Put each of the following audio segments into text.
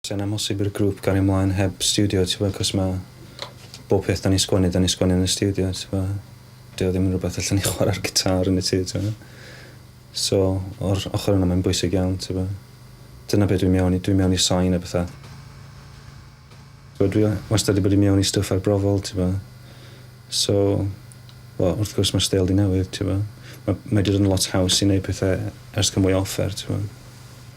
Sa'n amhosib i'r grŵp gario mlaen heb stiwdio t'bo cos ma' bob peth 'dan ni'n sgwennu 'dan ni'n sgwennu yn y stiwdio t'bo dyw o ddim yn rwbeth allen ni chwara'r gitâr yn y tŷ t'bo. So o'r ochor yna mae'n bwysig iawn t'bo dyna be' dwi mewn i dwi mewn i sain a petha. T'bo dwi wastad 'di bod i mewn i stwff arbrofol t'bo so wel wrth gwrs ma'r steil 'di newid t'bo ma' mae 'di dod yn lot haws i neud pethe ers ca'l mwy o offer t'bo.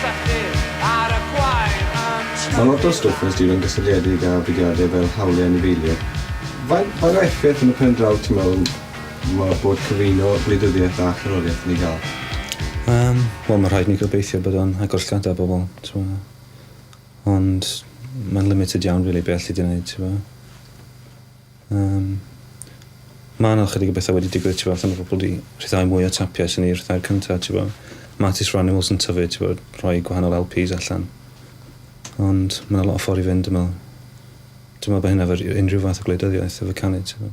Llechi ar y gwair yn tyfu. Mae lot o stwff yn stirio'n gysylltiedig â budiadau fel hawliau anifeiliaid. Faint faint o effaith yn y pen draw ti'n meddwl mae bod cyfuno gwleidyddiaeth a cherddoriaeth yn ei gael? Yym wel mae'n rhaid i ni gobeithio bod o'n agor llygada pobl t'mo' ond mae'n limited iawn rili be' alli di neud t'mo'? Yym. Ma' 'na chydig o betha wedi digwydd t'bo' fatha ma' pobol 'di rhyddhau mwy o tapiau swn i ryddhau'r cynta t'bo'. Ma' Artists for Animals yn tyfu t'bo' rhoi gwahanol LPs allan. Ond ma' 'na lot o ffor i fynd dwi me'wl. Dwi me'wl bo' hynna 'fo ry- unryw fath o gwleidyddiaeth efo canu t'bo'.